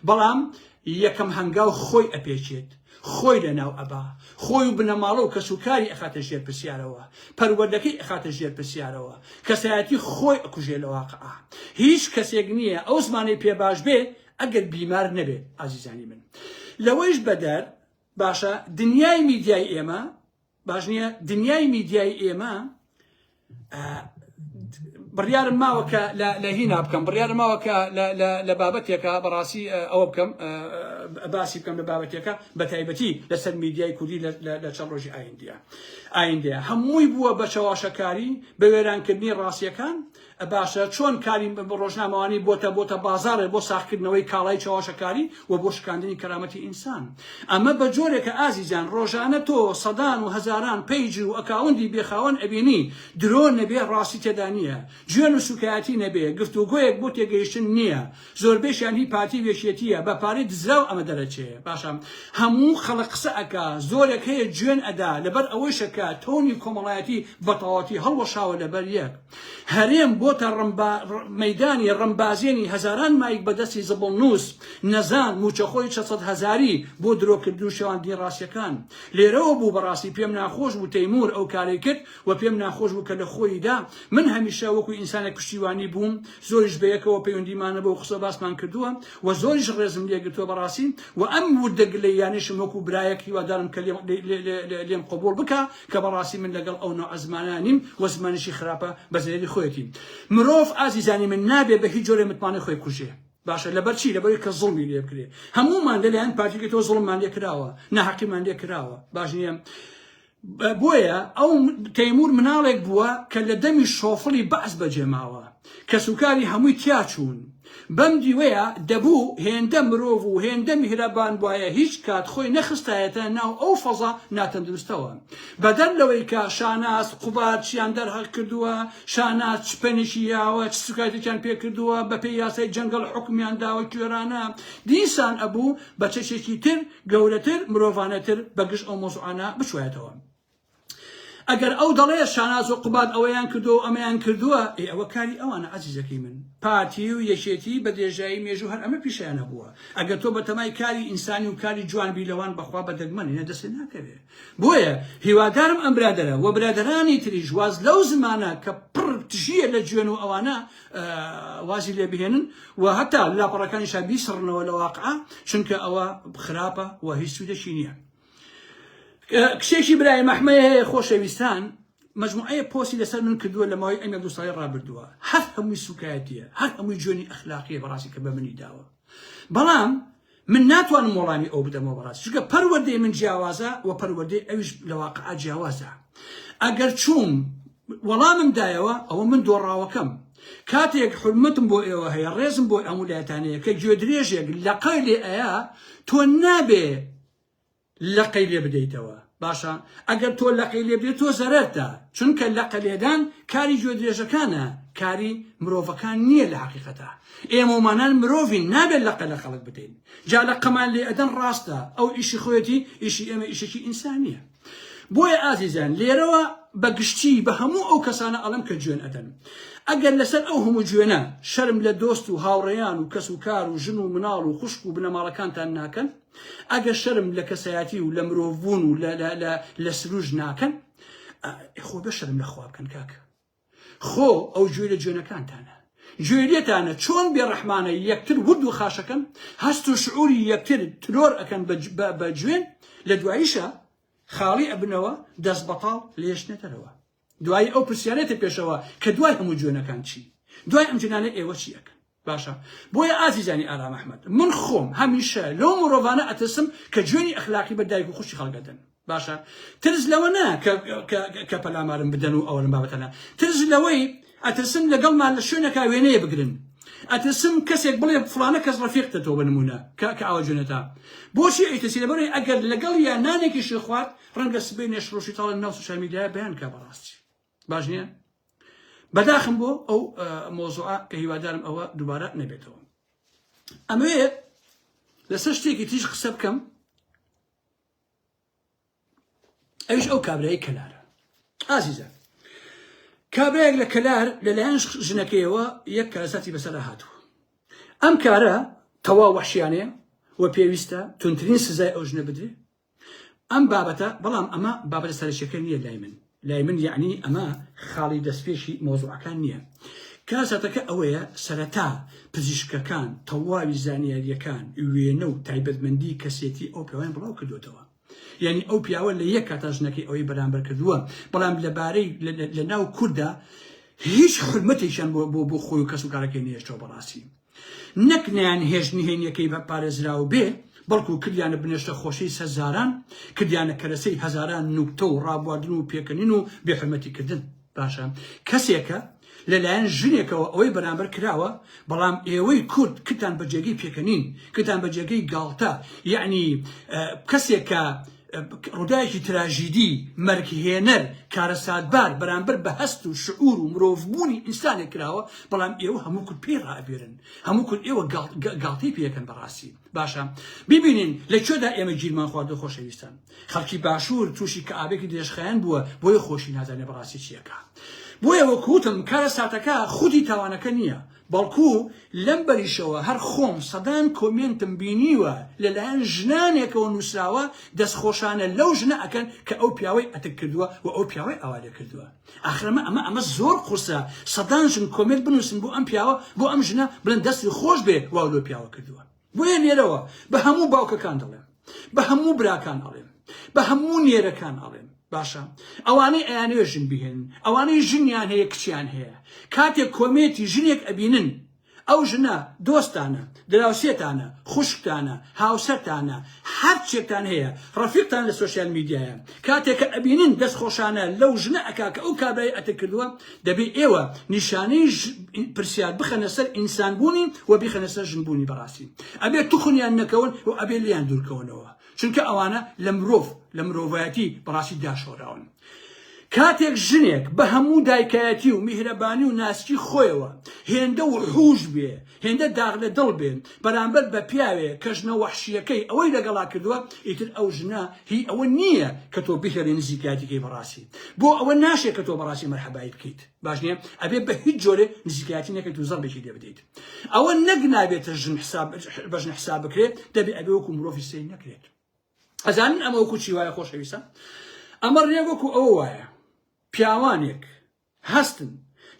بەڵام یەکەم هەنگاو خۆی ئەپێچێت خۆی لەناو ئەبا، خۆی و بنەماڵە و کەسوکاری ئەخاتە ژێر پرسیارەوە، پەروەردەکەی ئەخاتە ژێر پرسیارەوە، کەسایەتی خۆی ئەکوژێ لە واقعا. هیچ کەسێک نییە ئەو زمانەی پێ باش بێ ئەگەر بیمار نەبێ ئازیزانی من. لەوەیش بەدەر باشە دنیای میدیای ئێمە باش نییە دنیای میدیای ئێمە بڕیارم ماوە کە لە هینا بکەم بڕیارم ماوە کە لە بابەتێکە بەڕاستی ئەوە بکەم باسی بکەم لە بابەتێکە بە تایبەتی لەسەر میدیای کوردی لە چەند ڕۆژی ئایندە ئایندەیە هەمووی بووە بە چەواشەکاری بە وێرانکردنی ڕاستیەکان باشە چۆن کاری ڕۆژنامەوانی بۆتە بۆتە بازاڕێ بۆ ساخکردنەوەی کاڵای چەواشەکاری و بۆ شکاندنی کەرامەتی ئینسان ئەمە بە جۆرێکە ئازیزان ڕۆژانە تۆ سەدان و هەزاران پەیج و ئەکاوندی بێخاوەن ئەبینی درۆ نەبێ ڕاستی تێدا نییە جوێن و سوکایەتی نەبێ گفتوگۆیەک بۆ تێگەیشتن نییە زۆربەیشیان هی پارتی وێشیەتیە بە پارەی دزراو ئەمە دەرەچێ باشە هەموو خەڵک قسە ئەکا زۆرێک هەیە جوێن ئەدا لەبەر ئەوەیشە کە تۆنی کۆمەڵایەتی بەتەواوەتی هەڵوەشاوە لەبەر یەک هەرێم بۆتە ڕمبا مەیدانی ڕمبازێنی هەزاران مایک بە دەستی زبڵنووس، نەزان، مووچەخۆری چەد سەد هەزاری بۆ درۆ کردن و شێواندنی ڕاستیەکان. لێرەوە بوو بەڕاستی پێم ناخۆش بوو تەیموور ئەو کارەی کرد و پێم ناخۆش بوو کە لە خۆییدا من هەمیشە وەکو ئینسانێک پشتیوانی بووم، زۆریش بە یەکەوە پەیوەندیمانە بەو قسە باسمان کردووە و زۆریش ڕێزم لێ گرتووە بەڕاستی و ئەم وردە گلەییانەیشم وەکو برایەک هیوادارم کە لێم قبووڵ بکا کە بەڕاستی من لەگەڵ ئەو نەوعە زمانە نیم و زمانیشی خراپە بە زەرەری خۆیەتی. مرۆڤ ئازیزانی من نابێ بە هیچ جۆرێ متمانەی خۆی بکوژێ. باشە لەبەر چی؟ لەبەرەوەی کە زوڵمی لێ بکرێ. هەموومان لە لایەن پارتیەکەی تۆ زوڵممان لێ کراوە، ناهەقیمان لێ کراوە. باش نیە؟ بۆیە ئەو تەیموور مناڵێک بووە کە لە دەمی شۆفڵی بەعس بەجێ ماوە. کەسوکاری هەمووی تیاچوون. بەم دیوەیە دەبوو هێندە مرۆڤ و هێندە میهرەبانبوایە هیچ کات خۆی نەخستایەتە ناو ئەو فەزا ناتەندروستەوە. بەدەر لەوەی کە شاناز قوباد چیان دەرهەق کردووە، شاناز چ پەنێکی یاوە، چ سوکایەتێکیان پێ کردووە، بەپێی یاسای جەنگەڵ حوکمیان داوە کوێرانە، دیسان ئەبوو بە چەکێکی تر گەورەتر، مرۆڤانەتر بەگژ ئەو مەوزوعانە بچوایەتەوە. ئەگەر ئەو دەڵێ شاناز و قوباد ئەوەیان کردو و ئەمەیان کردووە ئێ ئەوە کاری ئەوانە ئازیزەکەی من پارتی و یەکێتی بە درێژایی مێژوو هەر ئەمە پیشەیان هەبووە ئەگەر تۆ بەتەمای کاری ئینسانی و کاری جوان بی لەوان بەخوا بە دەگمەنینە دەستێ ناکەوێ بۆیە هیوادارم ئەم برادەرە و برادەرانی تریش واز لەو زمانە کە پڕ تژیە لە جوێن و ئەوانە وازی لێ بهێنن و هەتا لاپەڕەکانیشا بیسڕنەوە لە واقعە چونکە ئەوە خراپە و هیچ سوودەکی نییە کچێکی برای مەحمەیە هەیە خۆشەویستان مجموعەیە پۆسی لەسەر من کردووە لە ماوەی ئەنگە دو ساڵی ڕابردووە هەر هەمووی سوکایەتیە هەر هەمووی جوێنی ئەخلاقیە بەڕاستی کە بە منی داوە بەڵام من ناتوانم وەڵامی ئەو بدەمەوە بەڕاست چونکە پەروەردەی من جیاوازە و پەروەردەی ئەویش لە واقع جیاوازە ئەگەر چووم وەڵامم دایەوە ئەوە من دۆڕاوەکەم کاتێک حرمەتم بۆ ئێوە هەیە ڕێزم بۆ ئەمولایەتانەیە کە گوێ درێژێک لەقای لێ ئەیا تۆ نابێ لەقەی لێ بدەیتەوە باشە ئەگەر تۆ لەقەی لێ بدەیت تۆ زەرەرتە چونکە لەقە لێدان کاری گوێ درێژەکانە کاری مرۆڤەکان نییە لە حقیقەتە ئێمەمانان مرۆڤین نابێت لەقە لە خەڵک بدەین جا لە قەمان لێ ئەدەن ڕاستە ئەو ئیشی خۆیەتی ئیشی ئێمە ئیشێکی ئینسانیە بۆیە ئازیزیان لێرەوە بە گشتی بە هەموو ئەو کەسانە ئەڵم کە جوێن ئەدەن ئەگەر لەسەر ئەو هەموو جوێنە شەرم لە دۆست و هاوڕێیان و کەس و کار و ژن و مناڵ و خوشک و بنەماڵەکانتان ناکەن ئەگە شەرم لە کەسایەتی و لە مرۆڤ بوون و لە سروش ناکەن خۆ بە شەرم لە خوا بکەن کاکە خۆ ئەو گوێ لە جوێنەکانتانە گوێ لێتانە چۆن بێڕەحمانە یەکتر ورد و خاشەکەن هەست و شعوری یەکتر ترۆر ئەکەن بە جوێن لە دواییشە خاڵی ئەبنەوە دەست بەتاڵ لێشنێتەرەوە دوای ئەو پرسیارێتە پێشەوە کە دوای هەموو جوێنەکان چی دوای ئەم جنانە ئێوە چی ئەکەن باشە بۆیە ئازیزانی ئارام ئەحمەد من خۆم هەمیشە لەو مڕۆڤانە ئەترسم کە جوێنی ئەخلاقی بە دایک و خوشکی خەڵک ئەدەن باشە ترس لەوە نا کە پەلامارم بدەن و ئەوەن بابەتەنا ترس لەوەی ئەترسم لەگەڵمان لە شوێنەکە وێنەیە بگرن ئەترسم کەسێک بڵێ فلانە کەس ڕفیقتە تۆ بنمونە کە ئاوە جوێنەتا بۆچی ئەیتەسی لەبەرەی ئەگەر لەگەڵ یا نانێکیشی خوارد ڕەنگە سبەی نێشڕۆشی تاڵە ناو سوشیال میدیای بەیان کا بەڕاستی باش نییە بەداخم بۆ ئەو مۆزوعە کە هیوادارم ئەوە دووبارە نەبێتەوە ئەمەوێ لەسەر شتێکی تیژ قسە بکەم ئەوش ئەو کابرای کەلارە ئازیزە کابراێک لە کەلار لەلایەن ژنەکەیەوە یەک کارەساتی بەسەر هاتووە ئەم کارە تەوا وەحشیانەیە و پێویستە تونترین سزای ئەو ژنە بدرێ ئەم بابەتە بەڵام ئەمە بابەتە سەرەکیەکە نییە لای من لای من یعنی ئەمە خاڵی دەستپێشی مۆزوعەکان نییە کارەساتەکە ئەوەیە سەرەتا پزیشکەکان تەواوی زانیاریەکان وێنە و تایبەتمەندی کەسێتی ئەو پیاوان بڵاو کردوێتەوە یعنی ئەو پیاوە لە یەک کاتا ژنەکەی ئەوەی بەرامبەر کردووە بەڵام لەبارەی لە ناو کووردا هیچ حرمەتێکیان بۆ بۆ بۆ خۆی و کەس و کارەکەی نێشتەوە بەڕاستی نەک نەیانهێشت نهێنیەکەی بە پارێزراو بێ، بەڵکو کردیانە بنێشتە خۆشەی سەرزاران، کردیانە کەرەسەی هەزاران نوکتە و ڕابواردن و پێکەنین و بێ حورمەتی کردن. باشە کەسێکە لە لایەن ژنێکەوە ئەوەی بەرامبەر کراوە، بەڵام ئێوەی کورد کردتان بە جێگەی پێکەنین، کردتان بە جێگەی گاڵتە، یەعنی کەسێک کە، ڕووداوێکی تراژیدی، مەرگهێنەر، کارەساتبار بەرامبەر بە هەست و شعور و مرۆڤبوونی ئینسانێک کراوە، بەڵام ئێوە هەموو کورد پێی ڕائەبوێرن، هەموو کورد ئێوە گاڵتەی پێ ئەکەن بەڕاستی. باشە ببینین لە کوێدا ئێمە گیرمان خواردووە خۆشەویستان. خەڵکی باشوور تووشی کەئابێکی درێژخایەن بووە، بۆیە خۆشی نازانێت بەڕاستی چی ئەکا. بۆیە وەکو وتم کارەساتەکە خودی تاوانەکە نییە، بەڵکو لەم بەریشەوە هەر خۆم سەدان کۆمێنتم بینیوە لە لایەن ژنانێکەوە نوسراوە دەست خۆشانە لەو ژنە ئەکەن کە ئەو پیاوەی ئەتک کردوە و ئەو پیاوەی ئاوا لێ کردوە ئاخر ئەمە ئەمە ئەمە زۆر قورسە سەدان ژن کۆمێنت بنوسن بۆ ئەم پیاوە بۆ ئەم ژنە بڵێن دەستی خۆش بێ واو لەو پیاوە کردوە. بۆیە لێرەوە بە هەموو باوکەکان دەڵێم، بە هەموو براکان ئەڵێم، بە هەموو نێرەکان ئەڵێم، باشە ئەوانەی ئەیانەوێ ژن بهێنن، ئەوانەی ژنیان هەیە کچیان هەیە، کاتێک کۆمێتی ژنێک ئەبینن، ئەو ژنە دۆستتانە، دراوسێتانە، خوشکتانە، هاوسەرتانە، هەر چێکتان هەیە ڕەفیقتان لە سۆشیال میدیایە کاتێ کە ئەبینن دەست خۆشانە لەو ژنە ئەکا کە ئەو کابرای ئەتک کردووە دەبێ ئێوە نیشانەی ژ پرسیار بخەنە سەر ئینسان بوونی و بیخەنە سەر ژن بوونی بەڕاستی ئەبێ توخنیان نەکەون و ئەبێ لیان دوورکەونەوە چونکە ئەوانە لە مرۆڤ لە مرۆڤایەتی بەڕاستی داشۆراون. کاتێک ژنێک بە هەموو دایکایەتی و میهرەبانی و ناسکی خۆیەوە هێندە وحوش بێ، هێندە داغ لە دڵ بێ بەرامبەر بە پیاوێ کە ژنە وەحشیەکەی ئەوەی لەگەڵا کردووە، ئیتر ئەو ژنە هی ئەوە نییە کە تۆ بهێڵی نزیکایەتی کەی بەڕاستی بۆ ئەوە ناشێ کە تۆ بەڕاستی مەرحەبایی بکەیت باش نییە ئەبێ بە هیچ جۆرێ نزیکایەتی نەکەیت و زەڕبێکی لێ بدەیت ئەوە نەک نابێتە ژن حساب بە ژن حساب بکرێت دەبێ ئەبێ وەکو مرۆڤی سەیر نەکرێت. ئەزانن ئەمە وەکو چی وایە خۆشەویستە ئەمە ڕێ وەکو ئەوە وایە پیاوانێک هەستن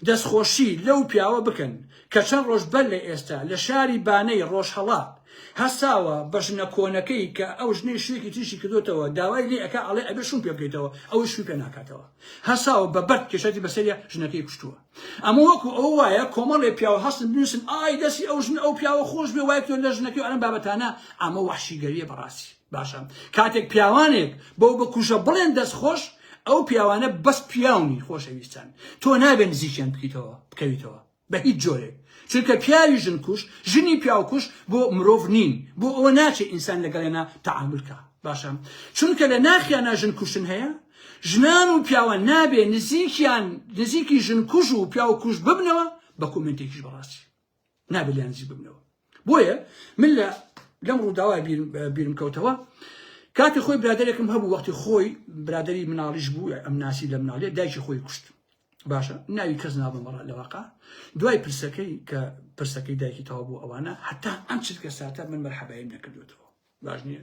دەستخۆشی لەو پیاوە بکەن کە چەند ڕۆژ بەر لە ئێستا لە شاری بانەی ڕۆژهەڵات هەساوە بە ژنە کۆنەکەی کە ئەو ژنەی شوێکی تریشی کردوتەوە داوای لێ ئەکا ئەڵێ ئەبێ شوم پێ بکەیتەوە ئەوەی شوی پێ ناکاتەوە هەساوە بە بەرد کێشەتی بەسەریە ژنەکەی کوشتووە ئەمە وەکو ئەوە وایە کۆمەڵێ پیاو هەستن بنووسن ئای دەسی ئەو ژن ئەو پیاوە خۆش بێ وای تۆ لە ژنەکەی ئەم بابەتانە ئەمە وەحشیگەریە بەڕاستی باشە کاتێک پیاوانێک بەو بکوژە بڵێن دەست خۆش ئەو پیاوانە بەس پیاونی خۆشەویستان تۆ نابێن زیکیان بکەیتەوە بکەویتەوە بە هیچ جۆرێک چونکە پیاوی ژن کوش ژنی پیاوکوش بۆ مرۆڤ نین بۆ ئەوە ناچێت ئینسان لەگەڵێنا تعاملکە باشە چونکە لە ناخیانە ژن کوشتن هەیە ژنان و پیاوان نابێ نزیکیان نزیکی ژن کوژ و پیاو کوژ ببنەوە بە کۆمنتێکیش بەڕاستی نابێ لیان نزیک ببنەوە بۆیە من لە لەم ڕووداوای بیرم کەوتەوە کاتی خۆی برادێکم هەبوو وەختی خۆی برادری مناڵیش بوو ئەم ناسی لە مناڵێ دایکی خۆی کوشت باشە ناوی کەس نابمەڕە لەواقع دوای پرسەکەی کە پرسەکەی دایکی تەوا بوو ئەوانە هەتا ئەم چرکە ساتە من مەرحەبایم نەکردوێتەوە باش نییە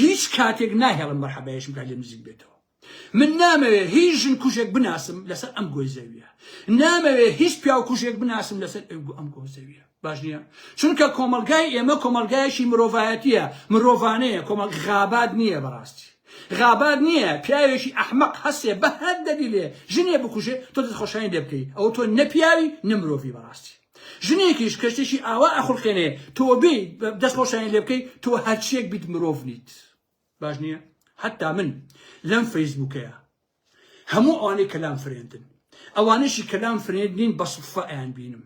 هیچ کاتێک ناهێڵم مەرحەبایشم بکات لێم نزیک بێتەوە من نامەوێ هیچ ژن کوژێک بناسم لەسەر ئەم گۆی زەویە نامەوێ هیچ پیاو کوژێک بناسم لەسەر ئەم گۆ زەویە باش نییە چونکە کۆمەلگای ئێمە کۆمەلگایەکی مرۆڤایەتیە مرۆڤانەیە کۆمەڵ غابات نییە بەڕاستی غابات نییە پیاوێکی ئەحمەق هەسێ بە هەر دەلیلێ ژنێ بکوژێ تۆ دەست خۆشانی لێ بکەی ئەو تۆ نەپیاوی نەمرۆڤی بەڕاستی ژنێکیش کە شتێکی ئاوا ئەخولقێنێ تۆ بێ دەست خۆشیان لێ بکەی تۆ هەرچیەک بیت مرۆڤ نیت باش نییە حتا من لەم فەیسبووکەیە هەموو ئەوانەی کەلام فرێندن ئەوانەشی کەلام فرێند نین بە سفە ئەیان بینم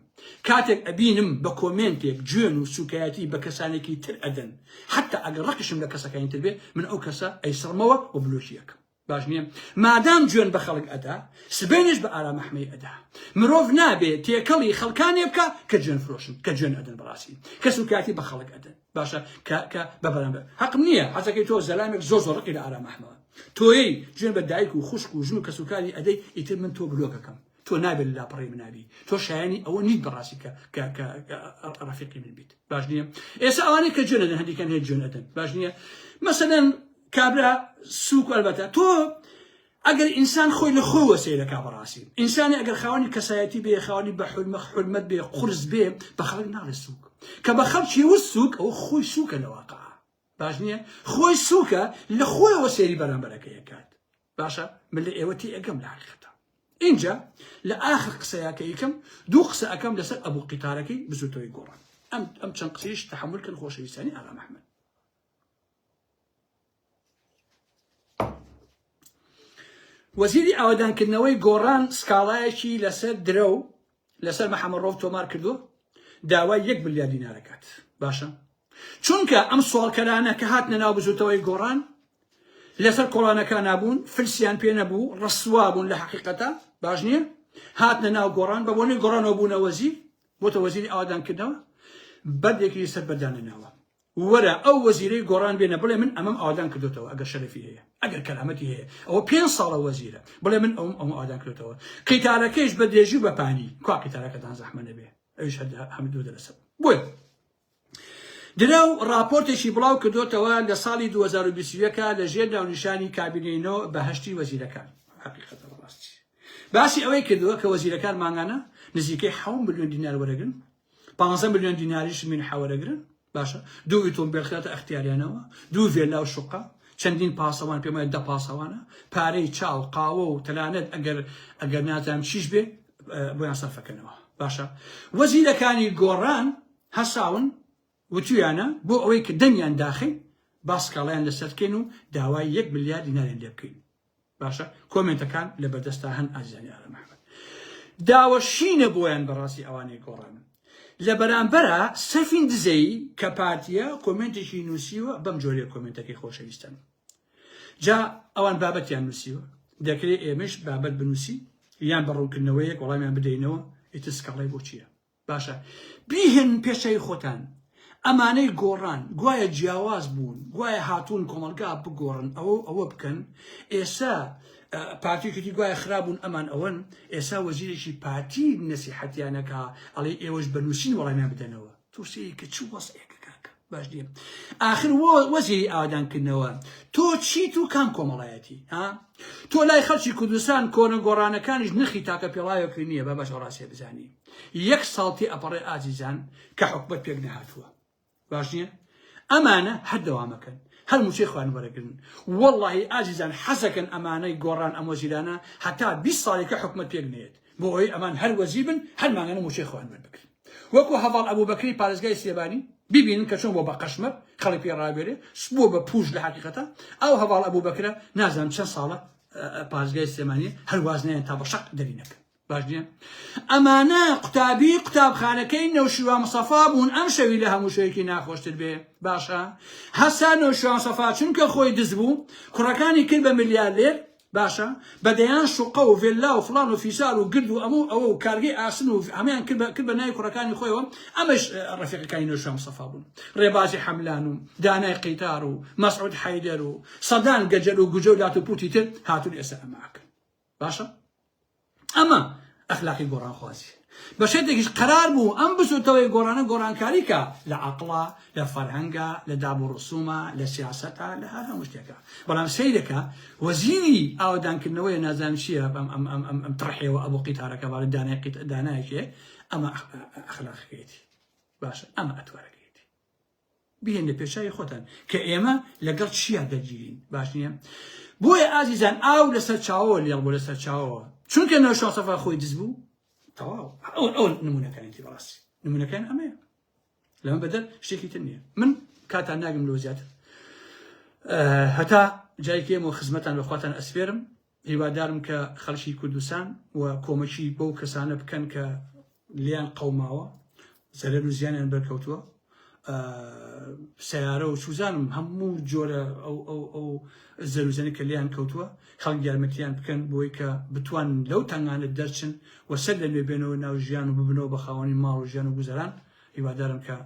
کاتێک ئەبینم بە کۆمێنتێک جوێن و سوکایەتی بە کەسانێکی تر ئەدەن حتا ئەگەر ڕقیشم لە کەسەکانی تر بێ من ئەو کەسە ئەیسڕمەوە و بلۆکیەکەم باش نیە مادام جوێن بە خەڵک ئەدا سبەینێش بە ئارام ئەحمەی ئەدا مرۆڤ نابێ تێکەڵی خەڵکانێ بکە کە جوێن فرۆشن کە جوێن ئەدن بەڕاستی کەس و کاتی بە خەڵک ئەدن باشە کە کە بە بەرامبەر حەقم نییە حەزەکەی تۆ زەلامێک زۆر زۆر ڕقی لە ئارام ئەحمەوە تۆی جوێن بە دایک و خوشک و ژن و کەسوکاری ئەدەی ئیتر من تۆ بلۆکەکەم تۆ نابێت لاپەڕی منابی تۆ شایانی ئەوە نیت بەڕاستی کە کە کە ڕەفیقی من بیت باش نییە ئێستا ئەوانەی کە جوێنەدەن هەندێکیان هەیە جوێنەدەن باش نییە مەسەدەن کابرا سوک البته تۆ ئەگەر ئینسان خۆی لە خۆی وەسەی لە کابڕاستی ئینسانی ئەگەر خاوەنی کەسایەتی بێ خاوەنی بە حلمە حلمەت بێ قرس بێ بە خەڵک ناڵێ سوک کە بە خەڵکی و سوک ئەو خۆی سوکە لە واقع باش نییە خۆی سوکە لە خۆی وەسێری بەرامبەرەکە یەکات باشە من لە ئێوەتی ئەگەم لە حقیقەتە اینجا لە ئاخر قسەیەکە یکم دوو قسە ئەەکەم لەسەر ئەبوو قیتارەکەی بزوتەوەی گۆڕان ئەم ئەم چەند قسەیش تحمل کەن خۆشەویستانی ئاغا محمد وەزیری ئاوەدانکردنەوەی گۆڕان سکاڵایەکی لەسەر درەو لەسەر مەحەمەڕۆف تۆمار کردو داوای یەک ملیار دینارەکات باشە چونکە ئەم سوالکەرانە کە هاتنە ناو بزوتەوەی گۆڕان لەسەر کۆڵانەکان نبوون فلسیان پێ نەبوو ڕسوا بوون لە حقیقەتە باش نییە هاتنە ناو گۆڕان بە بۆنی گۆڕانەوە بوونە وەزیر بۆتە وەزیری ئاوادانکردنەوە بەردێکی سەر بەردانە ناوە وەرە ئەو وەزیرەی گۆڕان بێنە بڵێ من ئەمەم ئاوادان کردۆتەوە ئەگەر شەرەفی هەیە ئەگەر کەرامەتی هەیە ئەوە پێنج ساڵە وەزیرە بڵێ من ئەوم ئەوم ئاوادان کردۆتەوە قیتارەکەیش بە درێژی بە پانی کوا قیتارەکەتان زەحمە نەبێ ئەوش هەر هەم دوو دەرەسە بۆیە درەو راپۆرتێکی بڵاو کردوتەوە لە ساڵی 2021 لە ژێر ناونیشانی کابینەوە بەهشتی وەزیرەکان باسی ئەوەی کردووە کە وەزیرەکان مانگانە نزیکەی ح ملیۆن دینار وەرەگرن پانزە ملیۆن دیناریش من حەوەرەگرن باشە دوو ئیتۆمبیل خێتە ئەختیاریانەوە دوو ڤێلا و شقە چەندین پاسەوان پێمای دە پاسەوانە پارەی چاو قاوە و تەلانەت ئەگەر ئەگەر نازانم چیش بێ بۆیان سەرفەکەنەوە باشە وەزیرەکانی گۆڕان هەساون وتویانە بۆ ئەوەی کە دەنگیان داخی باسکاڵیان لەسەرکەین و داوای یەک ملیار دیناریان لێ بکەین باشە کۆمێنتەکان لە بەردەستا هەن ئازیزانی ئارام ئەحمەد داوە شینە بۆیان بەڕاستی ئەوانەی گۆڕانن لە بەرامبەرە سەفین دزەی کە پارتیە کۆمێنتێکی نووسیوە بەم جۆرێ کۆمێنتەکەی خۆشەویستن جا ئەوان بابەتیان نووسیوە دەکرێت ئێمەش بابەت بنووسی یان بە ڕوونکردنەوەیەک وەڵامیان بدەینەوە ئیتر سکاڵای بۆ چییە باشە بیهێنن پێش چاوی خۆتان ئەمانەی گۆڕان گوایە جیاواز بوون گوایە هاتوون کۆمەلگا بگۆڕن ئەوە ئەوە بکەن ئێسا پارتیکردی گوایە خراببوون ئەمان ئەوەن ئێسا وەزیرێکی پارتی نەسیحەتیانەکە ئەڵێ ئێوەش بەنووسین وەڵامیان بدەنەوە تووسەیە کە چ وەسێکە کاکە باش نیە آخر وەزیری ئاوادانکردنەوە تۆ چیت و کام کۆمەڵایەتی ها تۆ لای خەڵکی کوردستان کۆنە گۆڕانەکانیش نرخی تاکە پێڵاوێکی نییە بە بەش ڕاستێ بزانی یەک ساڵ تێئەپەڕێ ئازیزان کە حکومەت پێک نەهاتووە باش نییە؟ ئەمانە هەر دەوامەکەن هەر موچەی خۆیان وەرەگرن وەڵاهی ئازیزان حەزەکەن ئەمانەی گۆڕان ئەم وەزیرانە هەتا بیست ساڵێکە حکومەت پێک نەیەت بۆ ئەوەی ئەمان هەر وەزیر بن هەر مانگانە موچەی خۆیان وەربگرن وەکو هەڤاڵ ئەبوبەکری پارێزگای سلێمانی ببینن کە چۆن بۆ بە قەشمەر خەڵک پێ ڕاوێرێ بۆ بە پووش لە حەقیقەتە ئەو هەڤاڵ ئەبوبەکرە نازانم چەند ساڵە پارێزگای سلێمانی هەر واز نەیان تا بە شەق دەرینەکەن باش نییە؟ ئەمانە قوتابی قوتابخانەکەی نەوشیروان مستەفا بوون ئەم شەوی لە هەموو شەوێکی ناخۆشتر بێ باشە هەسا نەوشیروان مستەفا چونکە خۆی دز بوو کوڕەکانی کرد بە ملیارلێر باشە بە دەیان شوقە و ڤێللا و فڵان و فیسار و گرد و ئەمە و ئەوە و کارگەی ئاسن و هەموویان کرد بە کرد بە ناوی کوڕەکانی خۆیەوە ئەمەش ڕەفیقەکانی نەوشیروان مستەفا بوون ڕێبازی حەملان و دانای قەیتار و مەسعود حەیدەر و سەدان گەجەر و گوجە و لات و پووتی تر هاتوون ئێستا ئەمە ئەکەن باشە ئەمە ئەخلاقی گۆڕانخوازی بە شێتێکیش قەرار بوو ئەم بزوتەوەی گۆڕانە گۆڕانکاریکە لە عقڵە لە فەرهەنگە لە داب و ڕسوومە لە سیاستە لە هەر هەموو شتێکە بەڵام سیرەکە وەزیری ئاوادانکردنەوەی نازان چییە ئەم تڕحێەوە ئەبوو قیتارەکە باە دانای قیت دانایکێ ئەمە ئەخلاقەکەیەتی باشە ئەمە ئەتوارەکە بهێنە پێچاوی خۆتان کە ئێمە لەگەڵ چیا دەگیرین باش نییە بۆیە ئازیزان ئاو لەسەر چاوەوە لێڵ بۆ لەسەر چاوەوە چونکە نەوە شاسەفا خۆی دز بوو تەواو ئەو ئەو نمونونەکانێتی بەڕاستی نمونونەکان ئەمەیە لەمە بەدەر شتێکی تر نییە من کاتان ناگم لۆ زیاتر هەتا جایکێمەوە خزمەتان بەخواتان ئەسپێرم هیوادارم کە خەلکی کوردستان و کۆمەکی بەو کەسانە بکەن کە لیان قەوماوە زەرەر و زیانیان بەرکەوتووە سیارە و سوزانم هەموو جۆرە ئەو زەروزەنی کە لیان کەوتووە خەڵک یارمەتیان بکەن بۆی کە بتوان لەو تەنگانە دەرچن و سەر لە نوێ بێنەوە ناو ژیان و ببنەوە بە خاوەنی ماڵ و ژیان و گوزەران هیوادارم کە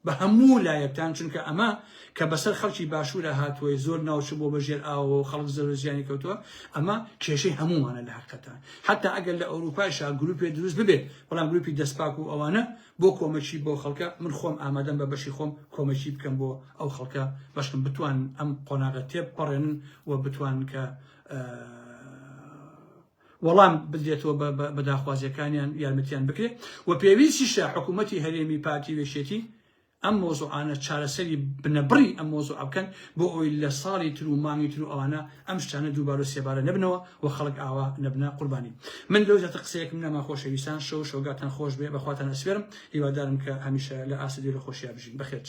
بە هەموو لایەکتان چونکە ئەمە کە بەسەر خەڵکی باشورا هاتووەی زۆر ناوچە بۆ بە ژێر ئاوەوەو خەڵک زەرو زیانی کەوتووە ئەمە کێشەی هەموومانە لە هەقتان حەتا ئەگەر لە ئەوروپایشا گروپێ دروست ببێت بەڵام گروپی دەست پاک و ئەوانە بۆ کۆمەکی بۆ خەڵکە من خۆم ئامادەم بە بەشی خۆم کۆمەکی بکەم بۆ ئەو خەڵکە بەشکم بتوان ئەم قۆناغە تێ پەڕێنن و بتوان کە وەڵام بدرێتەوە بە بە داخوازیەکانیان یارمەتیان بکرێت وە پێویستیشە حکومەتی هەرێمی پارتی وێشێتی ئەم مەوزوعانە چارەسەری بنەبڕی ئەم مەوزوعە بکەن بۆ ئەوەی لە ساڵی تر و مانگی تر و ئەوانە ئەم شتانە دووبار و سێبارە نەبنەوە و خەڵک ئاوا نەبنە قوربانی من لەو زیاتر قسەیەکم نەما خۆشەویستان شەو و شەوگاتان خۆش بێ بەخواتان ئەسپێرم هیوادارم کە هەمیشە لە ئاست دێر و خۆشیا بژین بەخێرچ